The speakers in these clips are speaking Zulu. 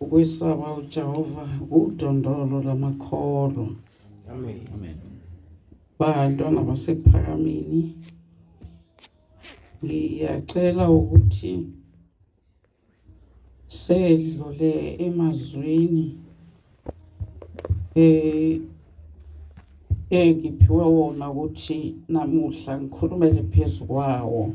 Ukwesaba uJehova udondolo lamakholwa. Amen. Amen. Bantwana basephakamini. Ngiyacela ukuthi sedlule emazwini eh engiphiwe wona ukuthi namuhla ngikhulumele phezukwawo.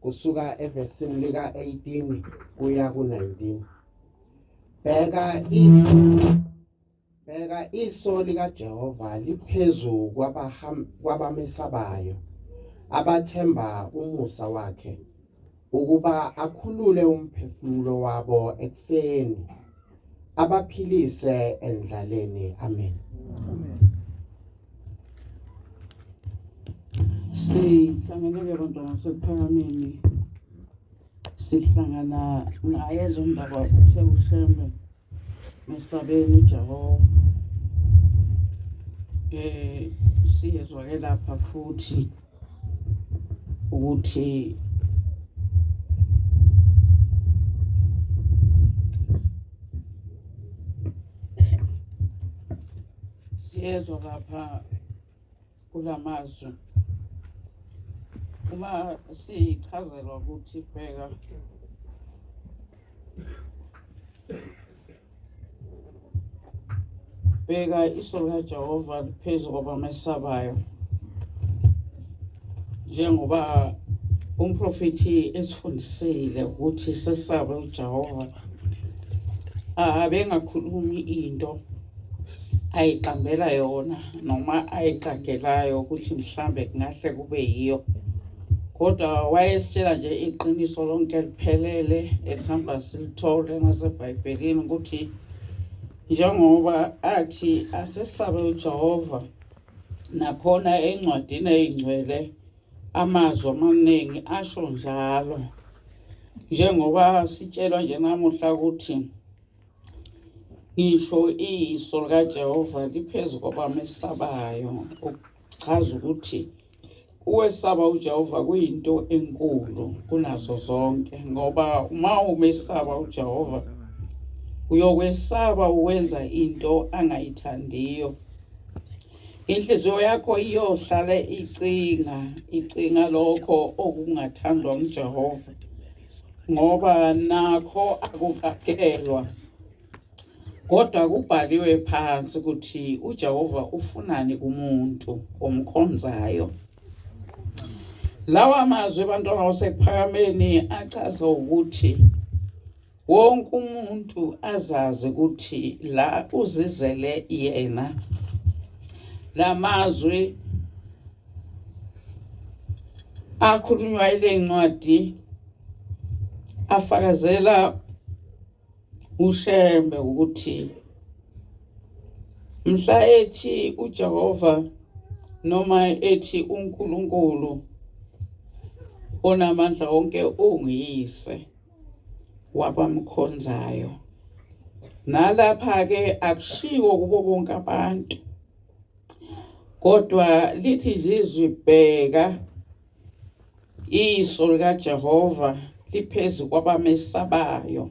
kusuka evesini lika-18 kuya ku-19 bheka bheka iso likajehova liphezu kwabamesabayo abathemba umusa wakhe ukuba akhulule umphefumulo wabo ekufeni abaphilise endlaleni amen amen sihlangeneke bantwana sekuphakameni sihlangana ngaye ezondaba uthe ushembe mesabeni ujehova eh siyezwake lapha futhi ukuthi siyezwa lapha kulamazwi uma sichazelwa ukuthi bheka bheka iso likajehova liphezu kwabamesabayo njengoba umprofethi esifundisile ukuthi sesabe ujehova abengakhulumi into ayiqambela yona noma ayiqagelayo ukuthi mhlambe kungahle kube yiyo kodwa wayesitshela nje iqiniso lonke liphelele elihamba silithole nasebhayibhelini ukuthi njengoba athi asesabe ujehova nakhona encwadini eyingcwele amazwi amaningi asho njalo njengoba sitshelwa nje namuhla ukuthi ngisho iso likajehova liphezu kwabamesabayo Chaza ukuthi uwesaba uJehova kuyinto enkulu kunazo zonke ngoba uma umesaba uJehova uyokwesaba uwenza into angayithandiyo inhliziyo yakho iyohlale icinga icinga lokho okungathandwa uJehova ngoba nakho akukakelwa Kodwa kubhaliwe phansi ukuthi uJehova ufunani kumuntu omkhonzayo. Lawa mazwi ebantwana wasekuphakameni achaza ukuthi wonke umuntu azazi ukuthi la uzizele yena lamazwi akhulunywa ile ncwadi afakazela uShembe ukuthi mhla ethi uJehova noma ethi uNkulunkulu onamandla wonke ungiyise wabamkhonzayo nalapha ke akushiwo kubo bonke abantu kodwa lithi izizwi bheka Iso likaJehova liphezu kwabamesabayo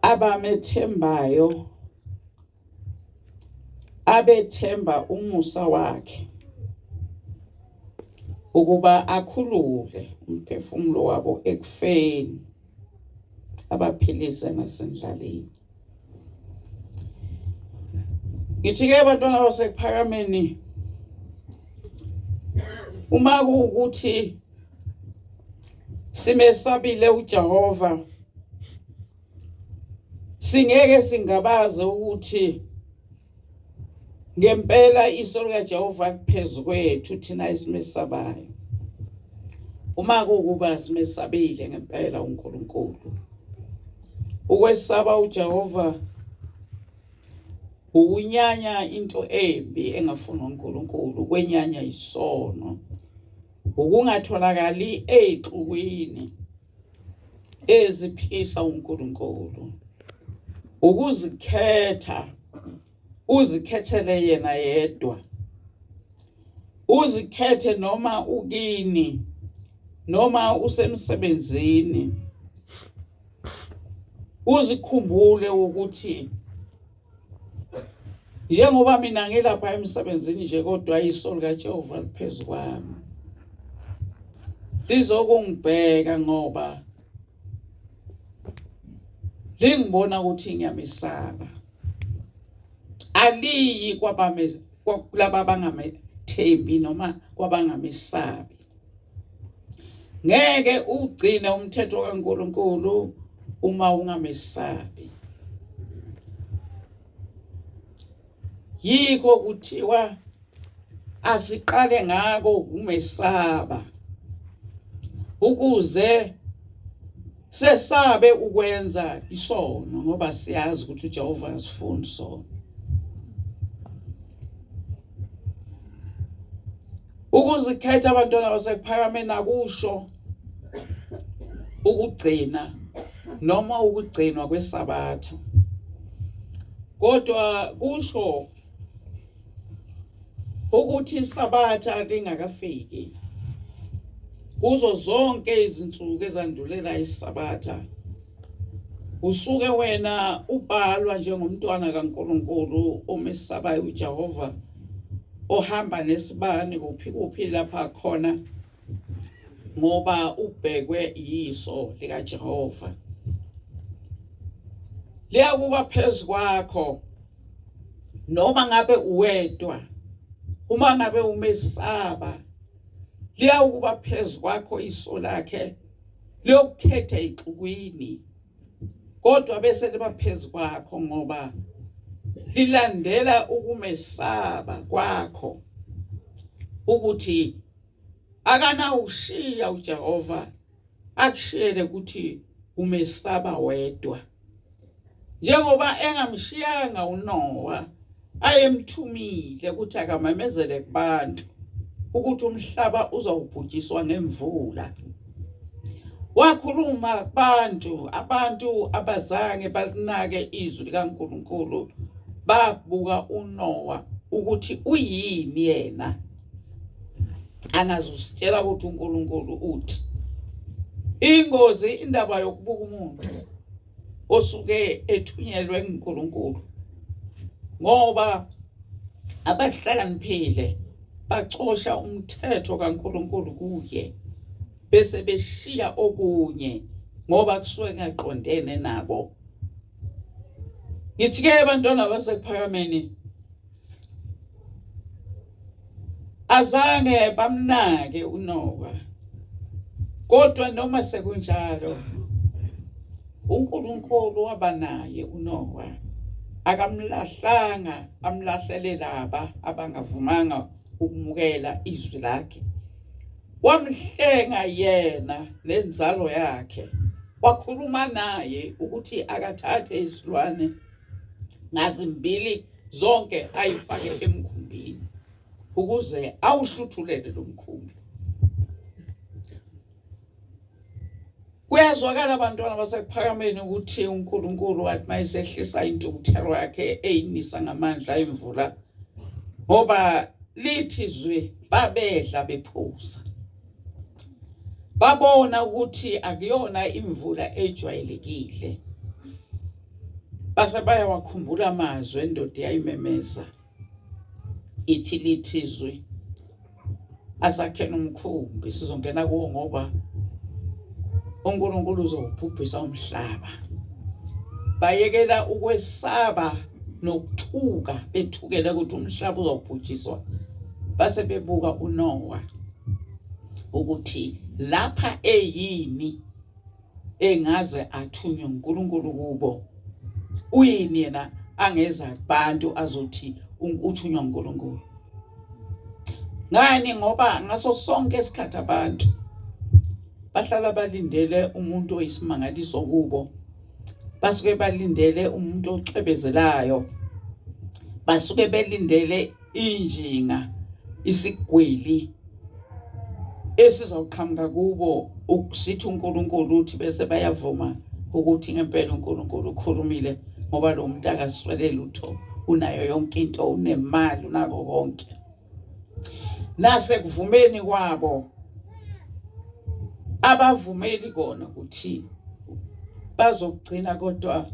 abamethembayo abethemba umusa wakhe ukuba akhulule umphefumulo wabo ekufeni abaphilise nasendlaleni Ngithi-ke abantwana basekuphakameni uma kuwukuthi simesabile uJehova singeke singabaze ukuthi Ngempela iso likaJehova liphezulu kwethu thina esimesabayo. Uma kukuba simesabile ngempela uNkulunkulu. Ukwesaba uJehova ukunyanya into embi engafuni uNkulunkulu, ukwenyanya isono, ukungatholakali exukwini. eziphisa uNkulunkulu ukuzikhetha uzikhethele yena yedwa uzikhethe noma ukini noma usemsebenzini uzikhumbule ukuthi njengoba mina ngilapha emsebenzini nje kodwa iso likaJehova liphezu kwami lizokungibheka ngoba lingibona ukuthi ngiyamesaba aliyi kwabame kulaba bangamethembi noma kwabangamesabi ngeke ugcine umthetho kaNkuluNkulu uma ungamesabi yikho kuthiwa asiqale ngako umesaba ukuze Sesabe ukwenza isono ngoba siyazi ukuthi uJehova uyasifuna isono. Ukuzikhetha abantwana basekuphakameni akusho ukugcina noma ukugcinwa kwesabatha. Kodwa kusho ukuthi isabatha lingakafiki kuzo zonke izinsuku ezandulela isabatha usuke wena ubhalwa njengomntwana kaNkuluNkulu omesabayo uJehova ohamba nesibani kuphi kuphi lapha khona ngoba ubhekwe yiso likaJehova liyakuba phezukwakho noma ngabe uwedwa uma ngabe umesaba liyawukuba phezu kwakho iso lakhe liyokukhetha ixukwini kodwa bese liba phezu kwakho ngoba lilandela ukumesaba kwakho ukuthi akanawushiya uJehova akushiyele ukuthi umesaba wedwa njengoba engamshiyanga uNowa ayemthumile ukuthi akamemezele kubantu ukuthi umhlaba uzawubhujiswa ngemvula wakhuluma kubantu abantu abazange balinake izwi likaNkulunkulu babuka uNowa ukuthi uyini yena angazusitshela ukuthi uNkulunkulu uthi ingozi indaba yokubuka umuntu osuke ethunyelwe nguNkulunkulu ngoba abahlakaniphile bacosha umthetho kaNkulunkulu kuye bese beshiya okunye ngoba kusuke ngaqondene nabo ngithi ke abantwana basekuphakameni azange bamnake uNowa kodwa noma sekunjalo uNkulunkulu wabanaye uNowa akamlahlanga amlahlele laba abangavumanga ukumukela izwi lakhe wamhlenga yena nenzalo yakhe wakhuluma naye ukuthi akathathe isilwane ngazimbili zonke ayifake emkhumbini ukuze awuhluthulele lo mkhumbi kuyazwakala abantwana basekuphakameni ukuthi uNkulunkulu wathi mayisehlisa intukuthelo yakhe eyinisa ngamandla emvula ngoba lithi zwi babedla bephuza babona ukuthi akuyona imvula ejwayelekile base bayawakhumbula amazwi endoda yayimemeza ithi lithizwe asakhela umkhumbi sizongena kuwo ngoba uNkulunkulu uzobhubhisa umhlaba bayekela ukwesaba nokuthuka bethukele ukuthi umhlaba uzobhujiswa base bebuka uNowa ukuthi lapha eyini engaze athunywe uNkulunkulu kubo uyini yena angeza kubantu azothi uthunywa uNkulunkulu ngani ngoba ngaso sonke isikhathi abantu bahlala balindele umuntu oyisimangaliso kubo basuke balindele umuntu ocwebezelayo basuke belindele injinga isigwili esizawuqhamuka kubo ukusithi uNkulunkulu uthi bese bayavuma ukuthi ngempela uNkulunkulu ukhulumile ngoba lo muntu akaswele lutho unayo yonke into unemali unako konke nase kuvumeni kwabo abavumeli kona ukuthi bazokugcina kodwa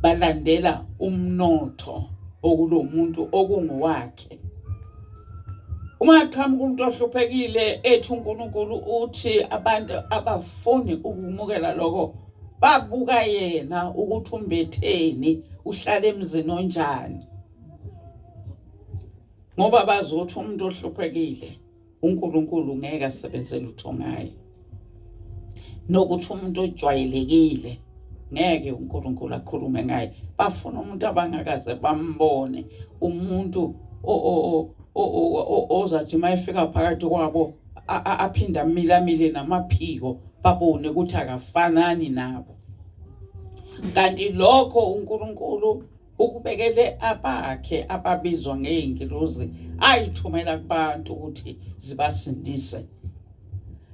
balandela umnotho okulomuntu okungowakhe uma qhamuka umuntu ohluphekile ethi uNkulunkulu uthi abantu abafuni ukumukela lokho babuka yena ukuthi umbetheni uhlala emzini onjani ngoba bazothi umuntu ohluphekile uNkulunkulu ngeke asebenze lutho ngaye nokuthi umuntu ojwayelekile ngeke uNkulunkulu akhulume ngaye bafuna umuntu abangakaze bambone umuntu ozathi uma efika phakathi kwabo aphinde amilamile namaphiko babone ukuthi akafanani nabo kanti lokho uNkulunkulu ukubekele abakhe ababizwa ngeyingilozi ayithumela kubantu ukuthi zibasindise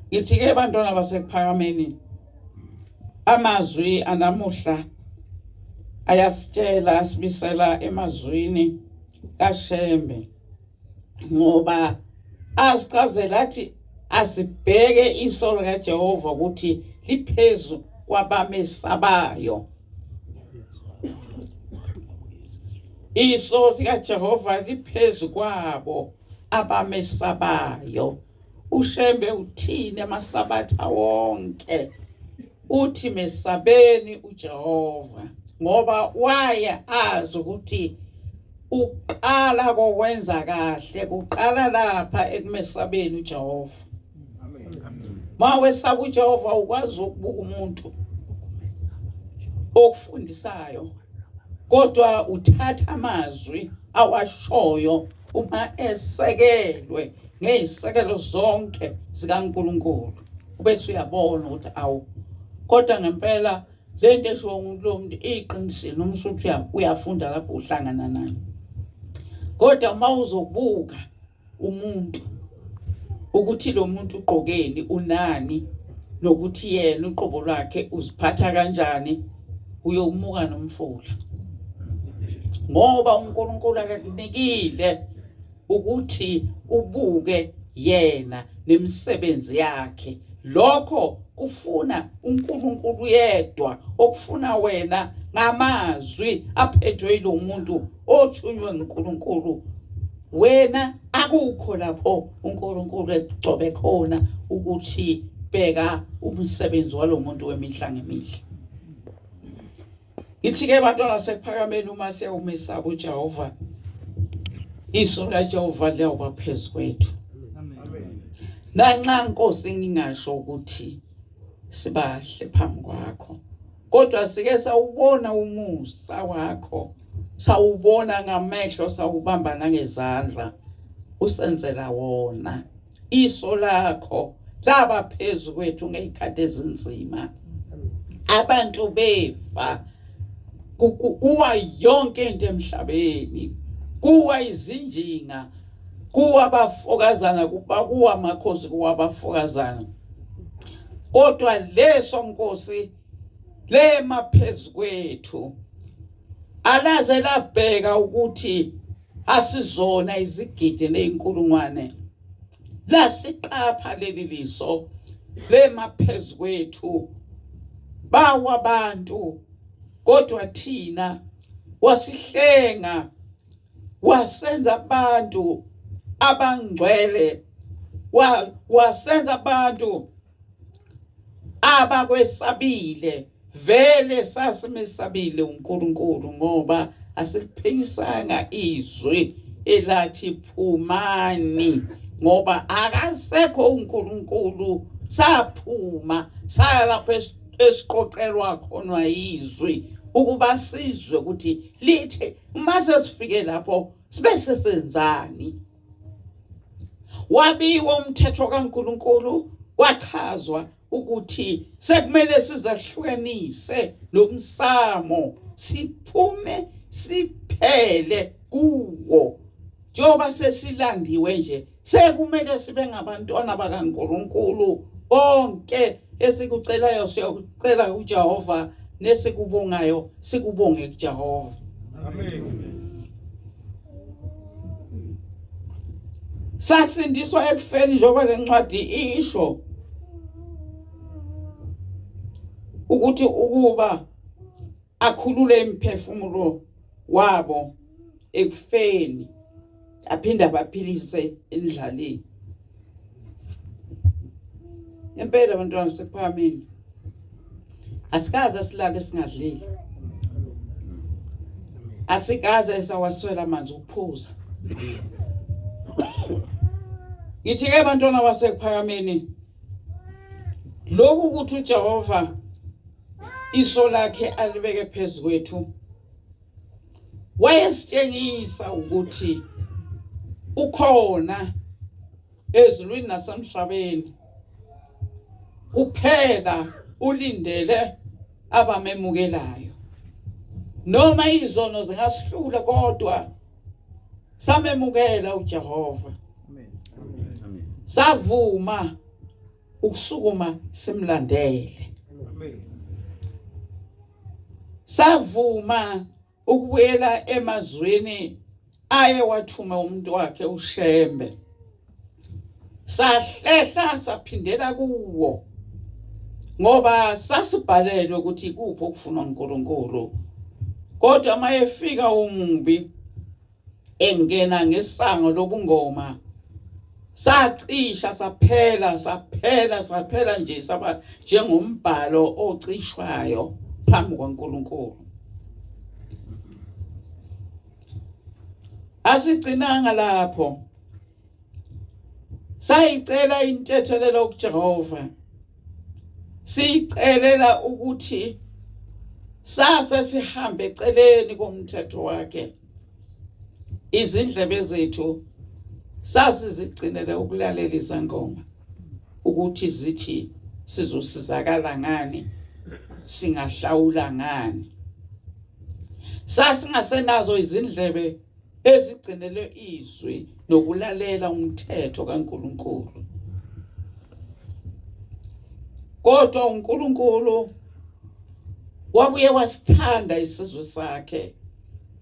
ngithi ke bantwana basekuphakameni amazwi anamuhla ayasitshela asibisela emazwini kashembe ngoba asichazela athi asibheke iso likaJehova ukuthi liphezu kwabamesabayo iso likaJehova liphezu kwabo abamesabayo uShembe uthini amasabatha wonke uthi mesabeni uJehova ngoba waya azi ukuthi uqala kokwenza kahle kuqala lapha ekumesabeni uJehova mawesaba uJehova ukwazi ukubuka umuntu okufundisayo kodwa uthatha amazwi awashoyo uma esekelwe ngey'sekelo zonke zikaNkulunkulu ubese uyabona ukuthi awu kodwa ngempela le nto eshiwo ngumuntu lo muntu iyiqinisile noma usuthi uyafunda lapho uhlangana nayo kodwa uma uzobuka umuntu ukuthi lo muntu ugqokeni unani nokuthi yena uqobo lwakhe uziphatha kanjani uyomuka nomfula ngoba uNkulunkulu akakunikile ukuthi ubuke yena nemisebenzi yakhe lokho kufuna uNkulunkulu yedwa okufuna wena ngamazwi aphethwe ilomuntu othunywe nguNkulunkulu wena akukho lapho uNkulunkulu egcobe khona ukuthi bheka umsebenzi walomuntu wemihla ngemihla ithi ke bantwana sekuphakameni uma sewumesaba uJehova iso likaJehova liyoba phezu kwethu nanxa nkosi ngingasho ukuthi sibahle phambi kwakho kodwa sike sawubona umusa wakho sawubona ngamehlo sawubamba nangezandla usenzela wona iso lakho laba phezu kwethu ngeyikhathi ezinzima abantu befa kuwa yonke into emhlabeni kuwa izinjinga kuwabafokazana kubakuwa amakhosi kuwabafokazana kodwa leso nkosi lema phezukwethu alaze labheka ukuthi asizona izigidi nezinkulungwane lasiqapha leli liso lema phezukwethu bawa abantu kodwa thina wasihlenga wasenza abantu abangcwele wa wasenza abantu abakwesabile vele sasimesabile uNkulunkulu ngoba asiphilisanga izwi elathi phumani ngoba akasekho uNkulunkulu saphuma saya lapho esiqoqelwa khona izwi ukuba sizwe ukuthi lithe uma sesifike lapho sibe sesenzani wabiwa umthetho kaNkuluNkulu kwachazwa ukuthi sekumele sizahlukanise nomsamo siphume siphele kuwo njengoba sesilandiwe nje Sekumele sibe ngabantwana bakaNkulunkulu konke esikucelayo siyokucela kuJehova nesikubongayo sikubonge kuJehova. Amen. sasindiswa ekufeni njengoba lencwadi isho ukuthi ukuba akhulule imiphefumulo wabo ekufeni aphinde abaphilise endlaleni impela abantwana sekuphamile asikaze silale singadlile asikaze sawaswela amanzi ukuphuza ngithi ke abantwana basekuphakameni lokhu ukuthi uJehova iso lakhe alibeke phezu kwethu wayesitshengisa ukuthi ukhona ezulwini nasemhlabeni kuphela ulindele abamemukelayo noma izono zingasihlula kodwa samemukela uJehova savuma ukusukuma simlandele savuma ukubuyela emazwini aye wathuma umuntu wakhe uShembe sahlehla saphindela kuwo ngoba sasibhalelwe ukuthi kuphi okufunwa uNkulunkulu kodwa mayefika umubi engena ngesango lokungoma sacisha saphela saphela saphela nje saba njengombhalo ocishwayo phambi kwaNkuluNkulu asigcinanga lapho sayicela intethelelo kuJehova siyicelela ukuthi sase sihambe eceleni komthetho wakhe izindlebe zethu sasizigcinele ukulalela izangoma ukuthi zithi sizosizakala ngani singahlawula ngani sasingasenazo izindlebe ezigcinelwe izwi nokulalela umthetho kaNkuluNkulu kodwa uNkuluNkulu wabuye wasithanda isizwe sakhe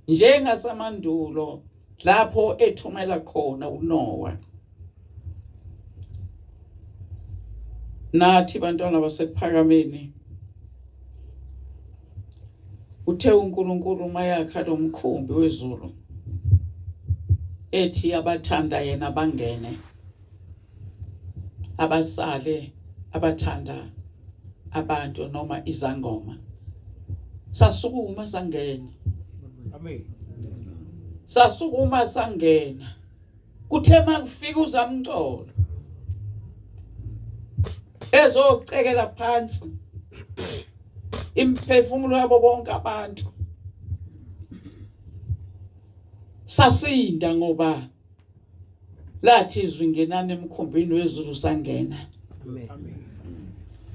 njengasamandulo lapho ethumela khona uNowa nathi bantwana basekuphakameni uthe uNkulunkulu mayakha lomkhumbi wezulu ethi abathanda yena bangene abasale abathanda abantu noma izangoma sasukuma sangena amen sasukuma sangena kuthe mangifika uzamcolo ezocekela phansi imphefumulo yabo bonke abantu sasinda ngoba lathi izwi ngenani emkhumbini wezulu sangena amen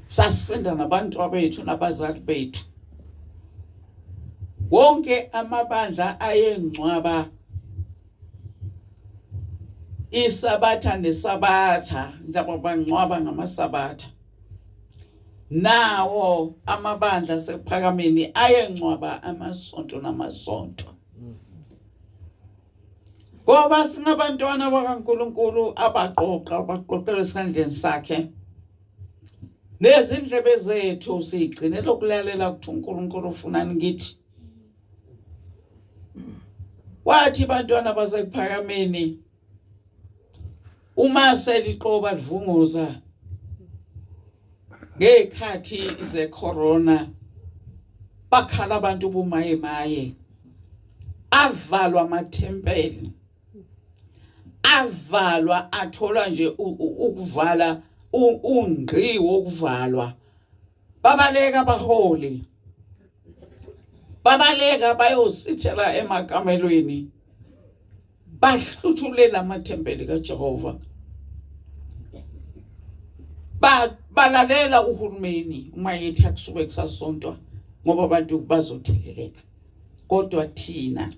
sasinda nabantu abethu nabazali bethu wonke amabandla ayengcwaba isabatha nesabatha njaba bangcwaba ngamasabatha nawo amabandla sekuphakameni ayengcwaba amasonto namasonto ngoba singabantwana bakaNkuluNkulu abaqoqa abaqoqela esandleni sakhe nezindlebe zethu sigcine lokulalela ukuthi uNkulunkulu ufunani kithi wathi bantwana basekuphakameni uma seliqoba livunguza ngekhathi ze corona bakhala abantu bumaye maye avalwa amathempeli avalwa athola nje ukuvala ungqi wokuvalwa babaleka abaholi babaleka bayosithela emakamelweni bahluthulela amathempeli kaJehova ba balalela uhulumeni uma yethi akusuke kusasontwa ngoba abantu bazotheleleka kodwa thina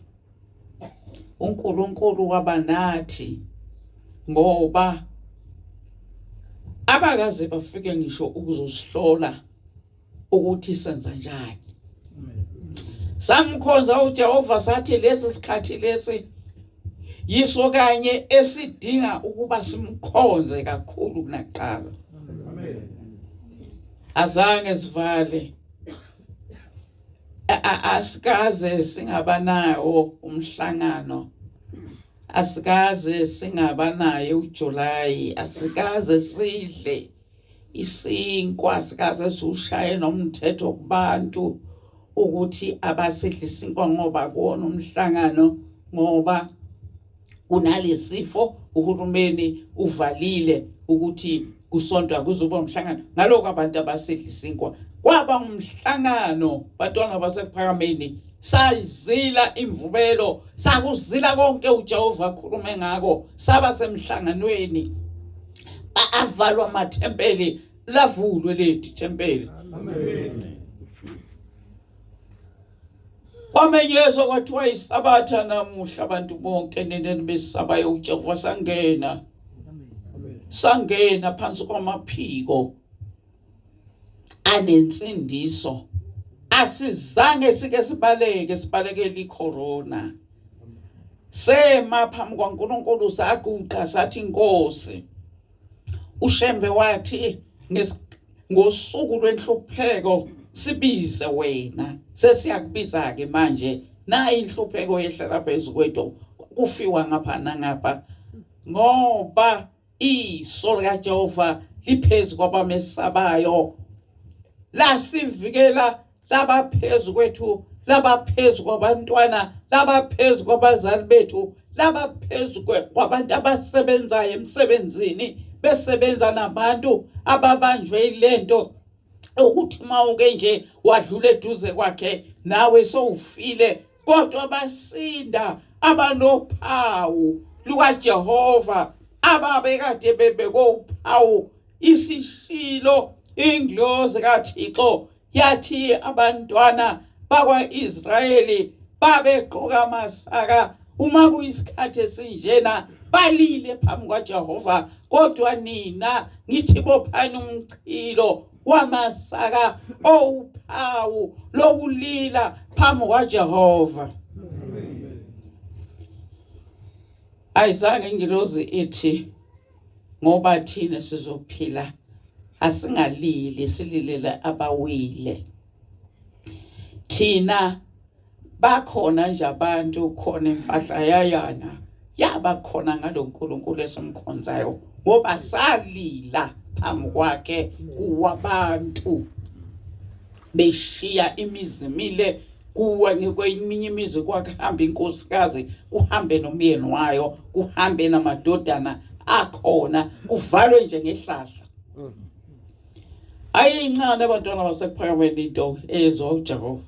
uNkulunkulu waba nathi ngoba abakaze bafike ngisho ukuzosihlola ukuthi senza njani samkhonza uJehova sathi lesi sikhathi lesi yiso kanye esidinga ukuba simkhonze kakhulu kunaqala amen azange sivale asikaze singabanawo umhlangano asikaze singabanayo uJuly asikaze sidle isinkwa asikaze siwushaye nomthetho kubantu ukuthi abasidle isinkwa ngoba kuwona umhlangano ngoba kunalesifo uhulumeni uvalile ukuthi kusontwa kuzoba umhlangano ngaloko abantu abasedlisinkwa kwaba umhlangano batwana basephakameni sayizila imvubelo sakuzila konke uJehova akhulume ngako saba semhlanganweni avalwa amathempeli lavulwe leli thempeli amen kwamenyezwa kwathiwa isabatha namuhla abantu bonke neneni besabayo uJehova sangena sangena phansi kwamaphiko anensindiso asizange sike sibaleke sibalekele icorona sema phambi kwaNkulunkulu saguqa sathi inkosi uShembe wathi ngosuku lwenhlupheko sibize wena sesiyakubiza ke manje nayi inhlupheko yehlela phezu kwethu kufiwa ngapha nangapha ngoba iso likaJehova liphezu kwabamesabayo lasivikela laba phezu kwethu laba phezu kwabantwana laba phezu kwabazali bethu laba phezu kwabantu abasebenzayo emsebenzini besebenza nabantu ababanjwe ilento ukuthi mawuke nje wadlula eduze kwakhe nawe sowufile kodwa basinda abanophawu lukaJehova ababekade bebekophawu isishilo inglozi kaThixo yathi abantwana bakwa-israyeli babegqoka amasaka uma kuyisikhathi esinjena balile phambi kwajehova kodwa nina ngithi bophani umchilo wamasaka owuphawu lokulila phambi kwajehova ayizange ingilozi ithi ngoba thina sizophila asingalili sililele abawile thina bakhona nje abantu khona impahla yayana yaba khona ngaloNkulunkulu esimkhonzayo ngoba salila phambi kwakhe kuwabantu beshiya imizi mile kuwe ngikweminye imizi kwakuhamba inkosikazi kuhambe nomyeni wayo kuhambe namadodana akhona kuvalwe nje ngehlahla mm. ayincane abantwana basekuphakameni into ezo Jehova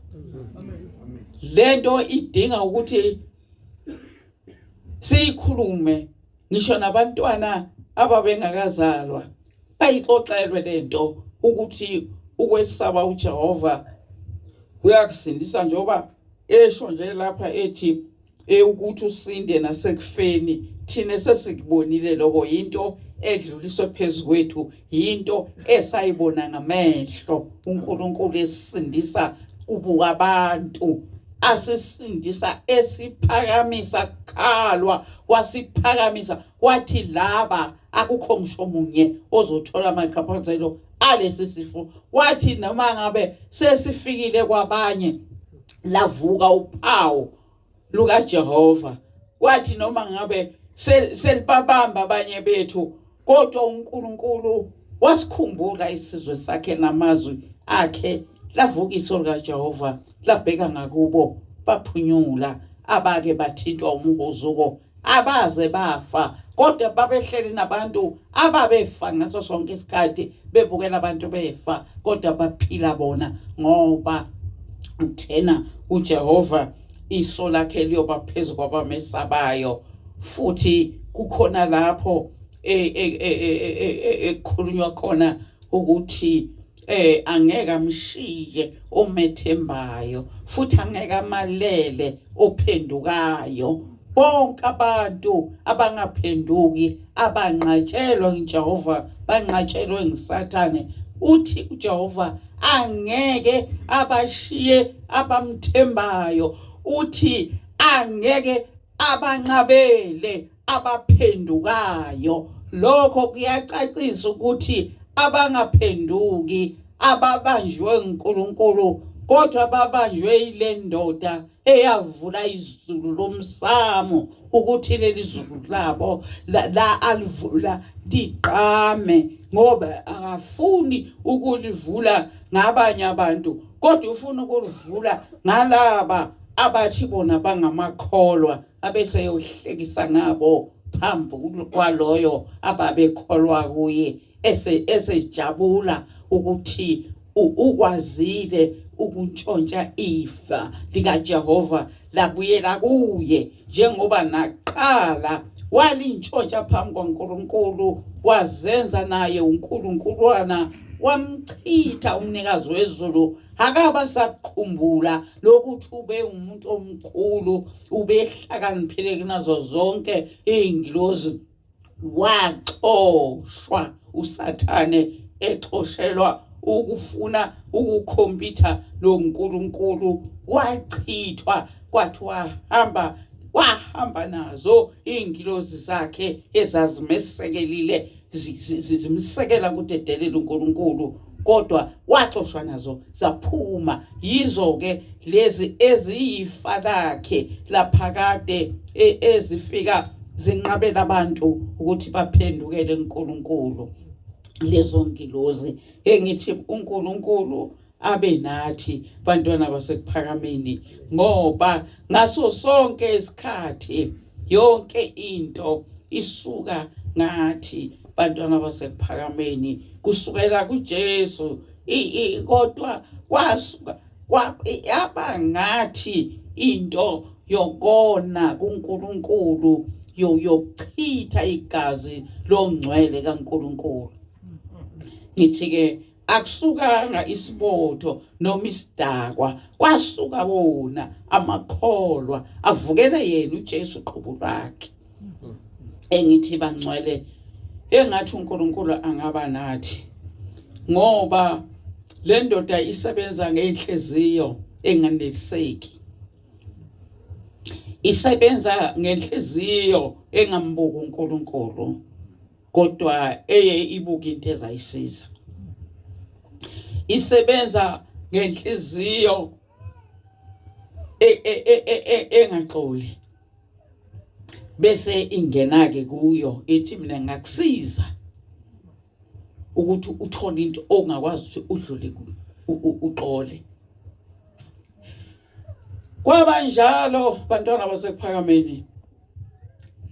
lento idinga ukuthi siyikhulume ngisho nabantwana ababengakazalwa Ayixoxelwe lento ukuthi ukwesaba uJehova uyakusindisa njengoba esho nje lapha ethi eh, ukuthi usinde nasekufeni thina sesikubonile lokho into edluliswe phezu kwethu yinto esayibona ngamehlo uNkulunkulu esisindisa kubuka abantu asisindisa esiphakamisa kukhalwa wasiphakamisa wathi laba akukho ngisho omunye ozothola amachaphazelo alesi sifo wathi noma ngabe sesifikile kwabanye lavuka uphawu lukaJehova kwathi noma ngabe selibabamba abanye bethu kodwa uNkulunkulu wasikhumbula isizwe sakhe namazwi akhe lavuka iso likaJehova labheka ngakubo baphunyula abake bathintwa umhuzuko abaze bafa kodwa babehleli nabantu ababefa ngaso sonke isikhathi bebukela abantu befa kodwa baphila bona ngoba uthena uJehova iso lakhe liyoba phezu kwabamesabayo futhi kukhona lapho e, e, e, ekukhulunywa khona ukuthi eh angeke amshiye omethembayo futhi angeke amalele ophendukayo bonke abantu abangaphenduki abanqatshelwa nguJehova banqatshelwe nguSathane uthi uJehova angeke abashiye abamthembayo uthi angeke abanqabele abaphendukayo lokho kuyacacisa ukuthi abangaphenduki ababanjwe uNkulunkulu kodwa babanjwe ile ndoda eyavula izulu lomsamo ukuthi leli zulu labo la, la alivula liqame ngoba akafuni ukulivula ngabanye abantu kodwa ufuna ukulivula ngalaba abathi bona bangamakholwa abese eyohlekisa ngabo phambi kwaloyo ababekholwa kuye esejabula ukuthi ukwazile ukuntshontsha ifa likaJehova labuyela kuye njengoba naqala walintshontsha phambi kwaNkulunkulu wazenza naye uNkulunkulwana wamchitha umnikazi wezulu akaba sakukhumbula lokuthi ube umuntu omkhulu ubehlakaniphile kunazo zonke iy'ngilozi waxoshwa usathane exoshelwa ukufuna ukukhompyutha lo nkulunkulu wachithwa kwathi wahamba wahamba nazo iy'ngilozi zakhe ezazimesekelile zimsekela ukuthi edelele uNkulunkulu kodwa waxoshwa nazo zaphuma yizo ke lezi eziyifa lakhe laphakade e, ezifika zinqabela abantu ukuthi baphendukele uNkulunkulu lezo ngilozi engithi uNkulunkulu abe nathi bantwana basekuphakameni ngoba ngaso sonke isikhathi yonke into isuka ngathi bantwana basekuphakameni kusukela kuJesu kodwa kwasuka yaba ngathi into yokona kuNkulunkulu yokuchitha igazi longcwele kaNkulunkulu ngithi ke akusukanga isibotho noma isidakwa kwasuka wona amakholwa avukele yena uJesu qhubu lwakhe engithi bangcwele engathi uNkulunkulu angaba nathi ngoba le ndoda isebenza ngenhliziyo enganeliseki isebenza ngenhliziyo engambuka uNkulunkulu kodwa eye ibuka into ezayisiza isebenza ngenhliziyo e- e- e- engaxoli bese ingena ke kuyo ethi mina ngakusiza ukuthi uthole into ongakwazi ukuthi udlule kuyo uxole kwabanjalo bantwana basekuphakameni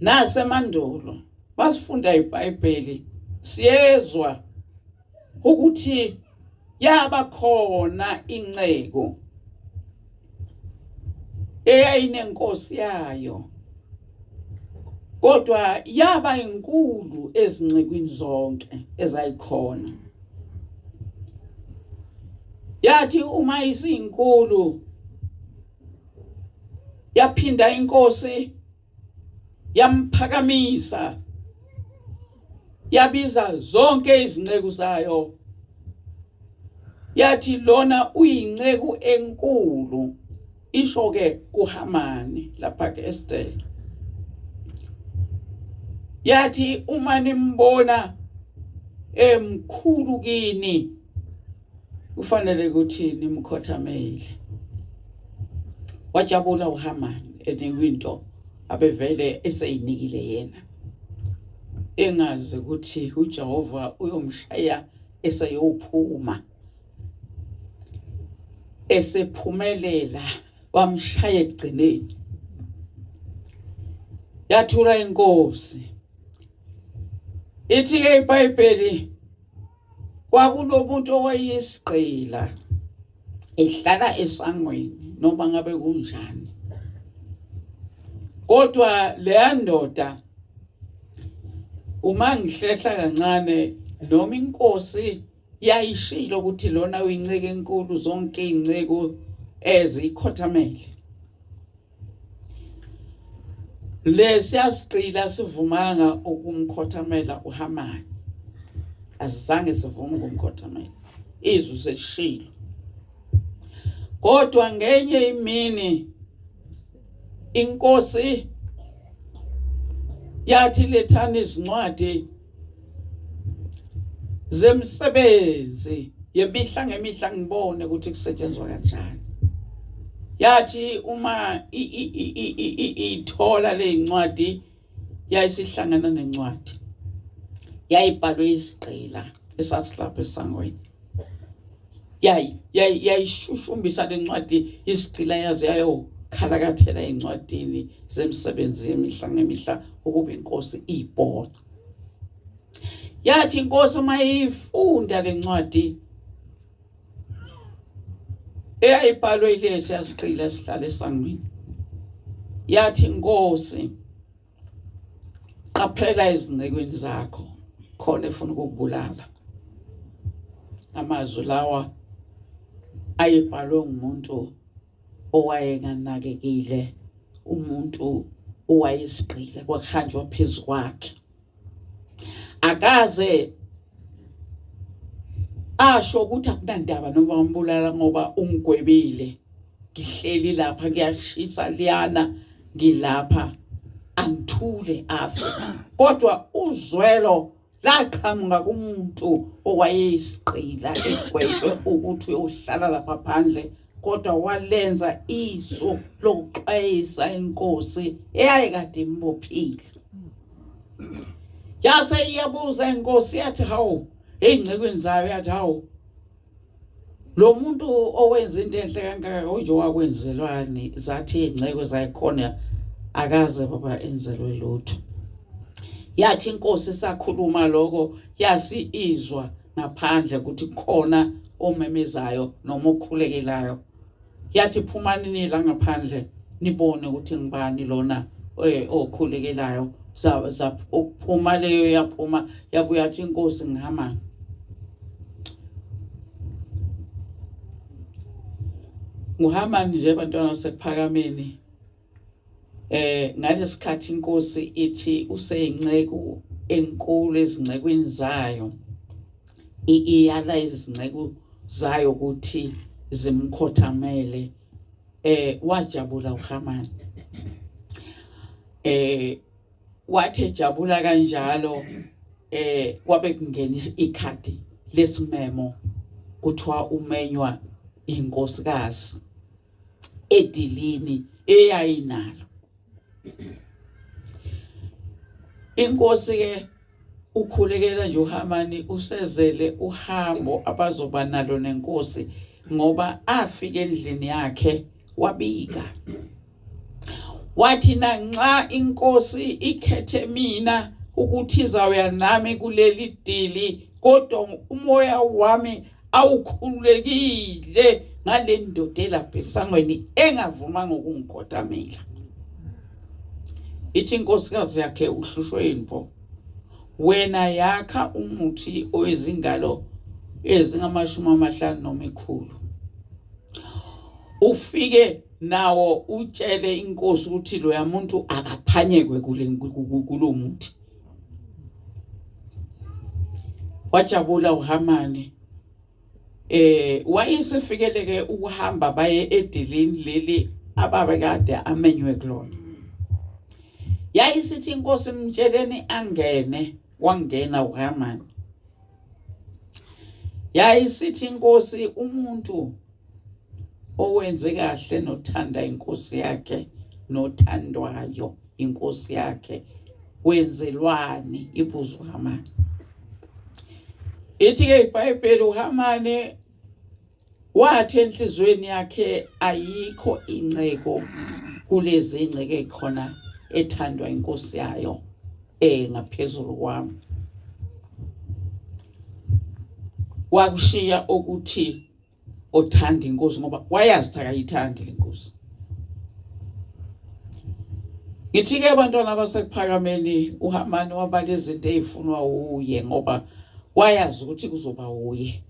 nasemandulo basifunda iBhayibheli siyezwa ukuthi yaba khona inceku eyayinenkosi yayo kodwa yaba inkulu ezincekwini zonke ezayikhona yathi uma isinkulu yaphinda inkosi yamphakamisa yabiza zonke izinceku zayo yathi lona uyinceku enkulu isho ke kuHamani lapha ke Esther yathi uma nimbona emkhulu kini kufanele ukuthi nimkhothamele wajabula uhamani enikwe into abevele eseyinikile yena engazi ukuthi uJehova uyomshaya eseyophuma esephumelela wamshaya ekugcineni yathula inkosi ithi ke iBhayibheli kwakunomuntu owayeyisigqila ehlala esangweni noma ngabe kunjani kodwa leya ndoda uma ngihlehla kancane noma inkosi yayishilo ukuthi lona uyinceke enkulu zonke izinceko ezikhothamele lesiya siqila sivumanga ukumkhothamela uhamani asizange sivume ukumkhothamela izwi selishilo kodwa ngenye imini inkosi yathi lethani izincwadi zemsebenzi yemihla ngemihla ngibone ukuthi kusetshenzwa kanjani yathi uma ithola lezincwadi yayisihlangana nencwadi yayibhalwe isigqila esasilapha esangweni yayishushumbisa le ncwadi isigqila yaze yayokhalakathela encwadini zemisebenzi yemihla ngemihla ukuba inkosi iyibhoxa yathi inkosi uma iyifunda le ncwadi eyayibhalwe ilesi yasigqila esihlale esangweni yathi inkosi qaphela izincekwini zakho khona efuna ukukubulala amazwi lawa ayebhalwe ngumuntu owayenganakekile umuntu owayesigqile kwakuhanjwa phezu kwakhe akaze asho ukuthi akunandaba noma umbulala ngoba ungigwebile ngihleli lapha kuyashisa liyana ngilapha angithule afe kodwa uzwelo laqhamuka kumuntu owayeyisiqila egwetshwe ukuthi uyohlala lapha phandle kodwa walenza iso lokuxwayisa inkosi eyayekade imbophile yase iyabuza inkosi yathi hawu ey'ngcekweni zayo yathi hawu lo muntu owenza into enhle kangaka unje wakwenzelwani zathi iy'ngceko zayikhona akaze baba enzelwe lutho yathi inkosi sakhuluma lokho yasi izwa ngaphandle ukuthi khona omemezayo noma okhulekelayo yathi phumani nila ngaphandle nibone ukuthi ngibani lona eh, okhulekelayo zaphuma leyo yaphuma yabuya athi inkosi ngihamba nguhamani nje bantwana sekuphakameni eh ngalesikhathi inkosi ithi useyinceku enkulu ezincekweni zayo iyala izinceku zayo ukuthi zimkhothamele eh wajabula uHamani eh wathi ejabula kanjalo eh kwabe kungena ikhadi lesimemo kuthiwa umenywa inkosikazi edilini eyayinalo inkosi ke ukhulekela nje uHamani usezele uhambo abazoba nalo nenkosi ngoba afike endlini yakhe wabika wathi nanxa inkosi ikhethe mina ukuthi izawuya nami kuleli dili kodwa umoya wami awukhululekile ngale ndoda elapha esangweni engavumanga ukungigodamela ithi inkosikazi yakhe uhlushwe yinpo wena yakha umuthi oyizingalo ezingamashumi amahlanu noma ikhulu ufike nawo utshele inkosi ukuthi loya muntu akaphanyekwe kulo muthi wajabula uHamani eh wayesefikeleke ukuhamba baye edilini leli ababe kade amenywe kulona yayisithi inkosi mtsheleni angene wangena uHamani yayisithi inkosi umuntu owenze kahle nothanda inkosi yakhe nothandwayo inkosi yakhe kwenzelwani ibuzo uhamani ithi-ke ibhayibheli uhamane wathi enhliziyweni yakhe ayikho inceko kulezi ngceke khona ethandwa inkosi yayo eh ngaphezulu kwami wakushiya ukuthi othanda inkosi ngoba wayazi ukuthi akayithandi le nkosi ngithi ke abantwana basekuphakameni uhamani wabala izinto ezifunwa uye ngoba wayazi ukuthi kuzoba uye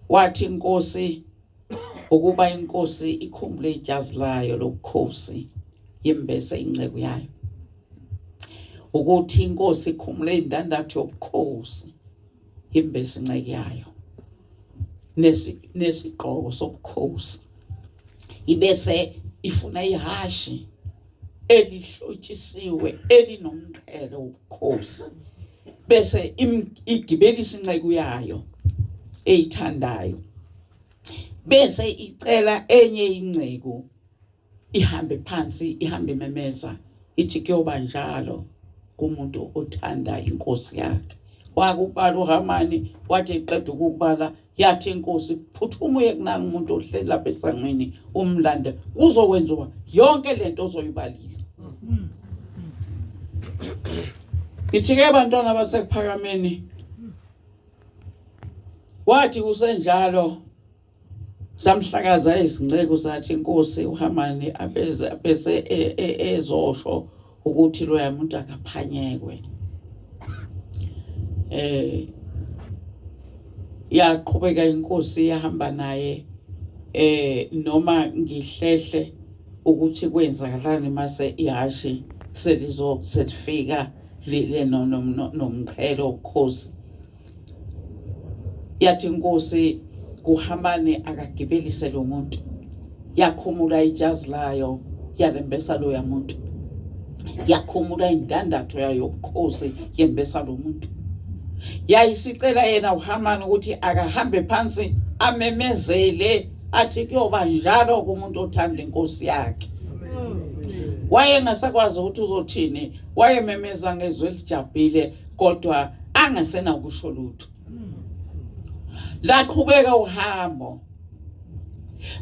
wathi inkosi ukuba inkosi ikhumbule ijazi layo lokukhosi yembese inceku yayo ukuthi inkosi ikhumule indandatho yobukhosi imbese inceku yayo nesigqoko sobukhosi ibese ifuna ihhashi elihlotshisiwe elinomqhele wobukhosi bese igibelisa inceku yayo eyithandayo bese icela enye inceku ihambe phansi ihambe memeza ithi kuyoba njalo kumuntu othanda inkosi yakhe wakubala uhamani wathi eqeda ukubala yathi inkosi phuthuma uye kunanga umuntu ohleli lapha esangweni umlande kuzokwenziwa yonke lento ozoyibalile hmm. ngithike bantwana basekuphakameni wathi kusenjalo samhlakaza izinceku sathi inkosi uHamani abeze abese e, e, ezosho ukuthi loya muntu akaphanyekwe eh yaqhubeka inkosi yahamba naye eh noma ngihlehle ukuthi kwenzakalani mase ihashi selizo selifika lile nomqhelo ukhosi yathi inkosi kuhamane akagibelise lo muntu yakhumula ijazi layo yalembesa loya muntu yakhumula indandatho yayo yobukhosi yembesa lo muntu yayisicela yena uhamani ukuthi akahambe phansi amemezele athi kuyoba njalo kumuntu othanda inkosi yakhe wayengasakwazi ukuthi uzothini wayememeza ngezwi elijabhile kodwa angasena ukusho lutho laqhubeka uhambo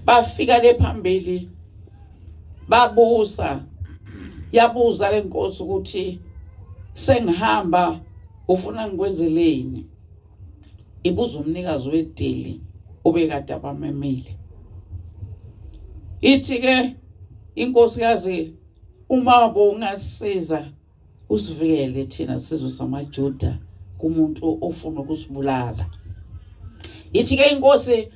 bafika le phambili babuza yabuza lenkosi ukuthi sengihamba ufuna ngikwenzeleni ibuza umnikazi wedili obekade abamemile ithi ke inkosikazi uma bongasiza usivikele thina sizwe samaJuda kumuntu ofuna ukusibulala ithi ke inkosi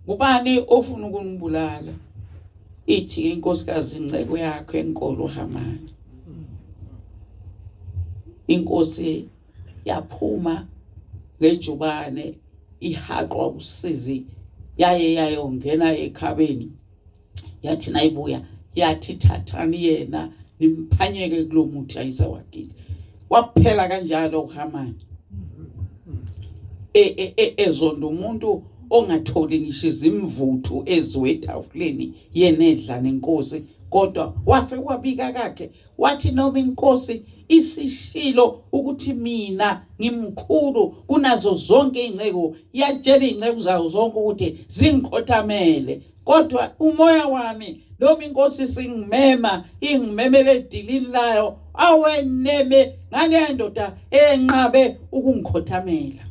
ngubani ofuna ukunibulala ithi ke inkosikazi inceko yakho enkolo uhamani inkosi yaphuma ngejubane ihaqwa usizi yaye yayongena ekhabeni yathi nayibuya yathi thathani yena nimphanyeke kulo muthi ayizawagile waphela kanjalo uhamani e, e, e, ezonda umuntu ongatholi ngisho izimvuthu eziwetafuleni yena edla nenkosi kodwa wafe wabika kakhe wathi noma inkosi isishilo ukuthi mina ngimkhulu kunazo zonke izinceku yatshela izinceku zayo zonke ukuthi zingikhothamele kodwa umoya wami noma inkosi singimema ingimemele edilini layo aweneme ngaleya ndoda enqabe ukungikhothamela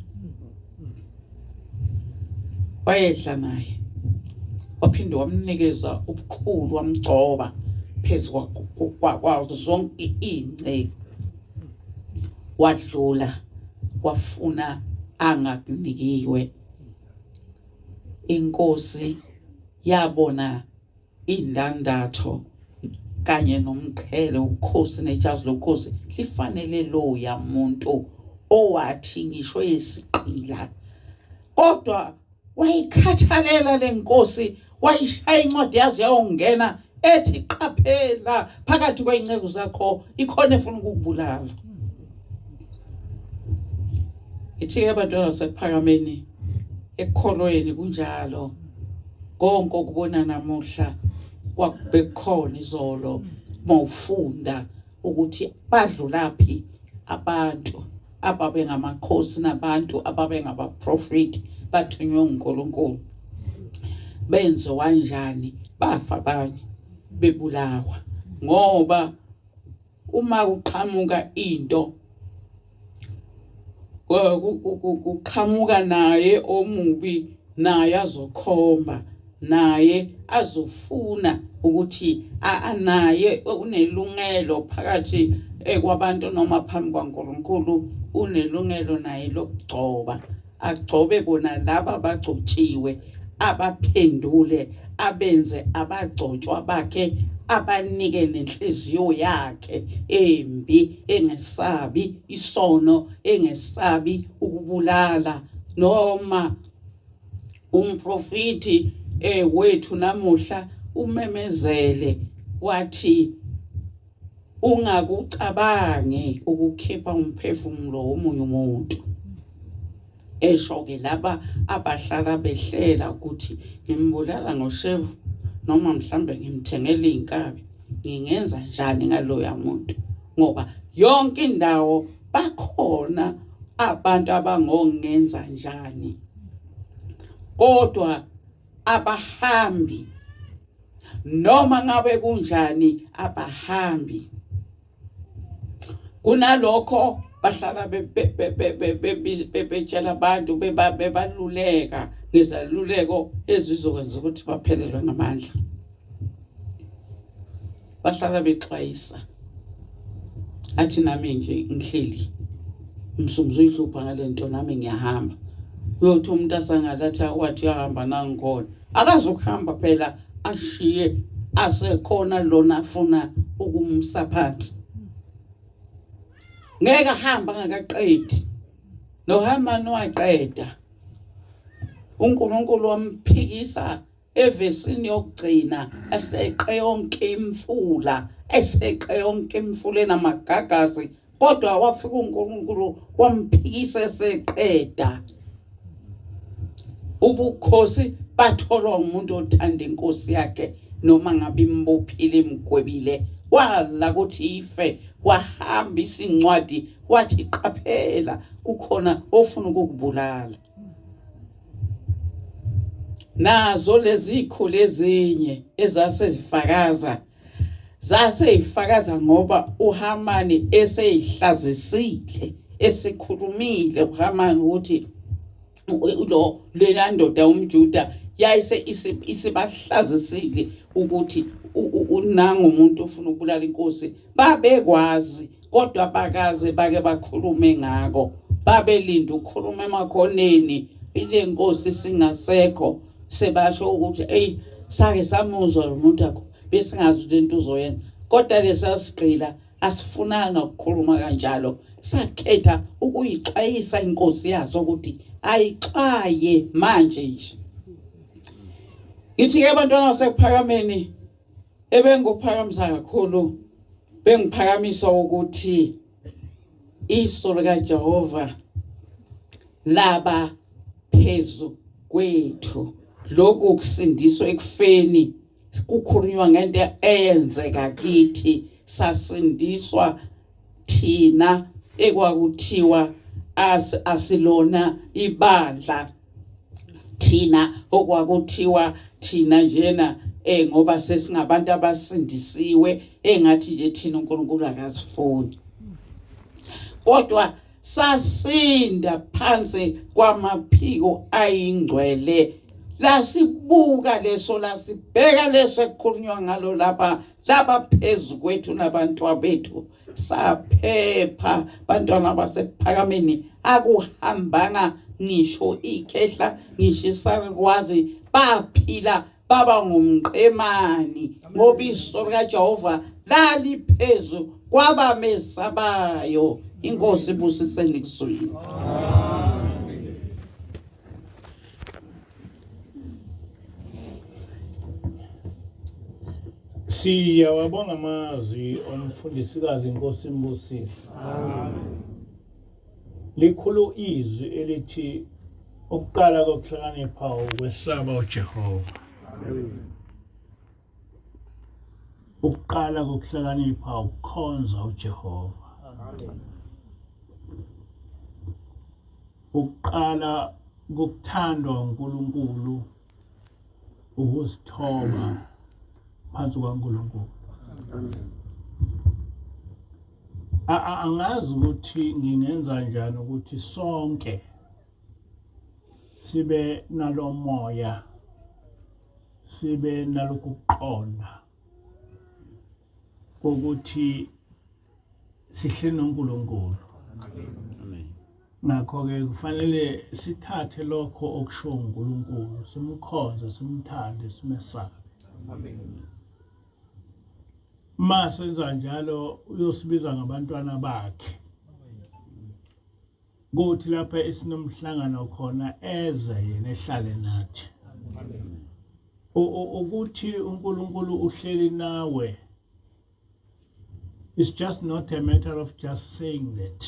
wayedla naye waphinde wamnikeza ubukhulu wamgcoba phezu kwazo zonke iy'nceku wadlula wafuna angakunikiwe inkosi yabona indandatho kanye nomqhele ubukhosi nejazi lokhosi lifanele loya muntu owathi ngisho isiqila kodwa wayikhathalela lenkosi wayishaya incwadi yazi yawongena ethi qaphela phakathi kweyinceku zakho ikhona efuna ukukubulala ithi ke abantwana basekuphakameni ekukholweni kunjalo konke okubona namuhla kwakube kukhona izolo mawufunda ukuthi badlulaphi abantu ababe ngamakhosi nabantu ababe ngabaprofeti bathunywe uNkulunkulu benze wanjani bafa abanye bebulawa ngoba uma uqhamuka into kuqhamuka naye omubi naye azokhomba naye azofuna ukuthi naye unelungelo phakathi eh, kwabantu noma phambi kwaNkulunkulu unelungelo naye lokugcoba agcobe bona laba bagcotshiwe abaphendule abenze abagcotshwa bakhe abanike nenhliziyo yakhe embi engesabi isono engesabi ukubulala noma umprofiti eh wethu namuhla umemezele wathi ungakucabangi ukukhipha umphefumulo womunye umuntu esho-ke laba abahlala behlela ukuthi ngimbulala ngoshevu noma mhlawumbe ngimthengele iy'nkabi ngingenza njani ngaloya muntu ngoba yonke indawo bakhona abantu abangongenza njani kodwa abahambi noma ngabe kunjani abahambi kunalokho bahlala bebetshela abantu bebaluleka ngezaluleko ezizokwenza ukuthi baphelelwe ngamandla bahlala bexwayisa athi nami nje ngihleli umsumzu uyihlupha ngalento nami ngiyahamba uyothi umuntu asangalathi akwathi uyahamba nangikhona akazokuhamba phela ashiye asekhona lona afuna ukumsa phansi ngeke ahamba ngakaqedi nohamani waqeda uNkulunkulu wamphikisa evesini yokugcina eseqe yonke imfula eseqe yonke imfula enamagagazi kodwa wafika uNkulunkulu wamphikisa eseqeda ubukhosi batholwa umuntu othanda inkosi yakhe noma ngabe imbophile imgwebile wala ukuthi ife wahamba isincwadi wathi qaphela kukhona ofuna ukukubulala nazo lezi ikhulu ezinye ezase zifakaza zase ifakaza ngoba uHamani eseyihlazisile esekhulumile uHamani ukuthi lo lena ndoda umjuda yayise isibahlazisile ukuthi unangu umuntu ufuna ukubulala inkosi babekwazi kodwa bakaze bake bakhulume ngako babelinda ukukhuluma emakhoneni ile nkosi singasekho sebasho ukuthi eyi sake samuzwa lo muntu akho besingazi ukuthi into uzoyenza kodwa lesasigqila asifunanga ukukhuluma kanjalo sakhetha ukuyixwayisa inkosi yaso ukuthi ayixwaye manje nje ngithi-ke abantwana basekuphakameni ebengikuphakamisa kakhulu bengiphakamisa ukuthi iso likaJehova laba phezu kwethu lokhu kusindiswa ekufeni kukhulunywa ngento eyenzeka kithi sasindiswa thina ekwakuthiwa as asilona ibandla thina okwakuthiwa thina njena eh ngoba sesingabantu abasindisiwe engathi nje thina uNkulunkulu akasifuni kodwa sasinda phansi kwamaphiko ayingcwele lasibuka leso lasibheka leso ekukhulunywa ngalo lapha laba phezu kwethu nabantwa bethu saphepha bantwana basekuphakameni akuhambanga ngisho ikhehla ngisho isarikwazi baphila baba ngumqemani ngoba iso likaJehova laliphezu kwabamesabayo inkosi ibusiseni kuzwini Siyawabonga amazwi omfundisikazi inkosi imbusise. Amen. Likhulu izwi elithi ukuqala kokuhlakanipha ukwesaba uJehova. Amen. ukuqala kokuhlakanipha ukukhonza uJehova ukuqala kokuthandwa uNkulunkulu ukuzithoba phansi kwaNkulunkulu angazi ukuthi ngingenza njani ukuthi sonke sibe nalomoya sibe nalokhu kuqonda kokuthi sihle noNkulunkulu ngakho-ke kufanele sithathe lokho okushiwo uNkulunkulu simkhonze simthande simesabe uma senza njalo uyosibiza ngabantwana bakhe kuthi lapha esinomhlangano khona eze yena ehlale nathi ukuthi uNkulunkulu uhleli nawe it's just not a matter of just saying that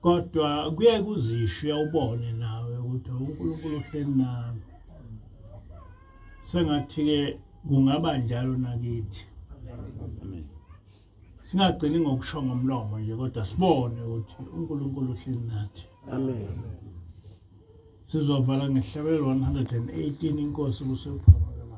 kodwa kuye kuzisho ubone nawe ukuthi uNkulunkulu uhleli nawe sengathi ke kungaba njalo nakithi amen singagcini ngokusho ngomlomo nje kodwa sibone ukuthi uNkulunkulu uhleli nathi amen sizovala ngehlabelo 118 inkosi kusephakama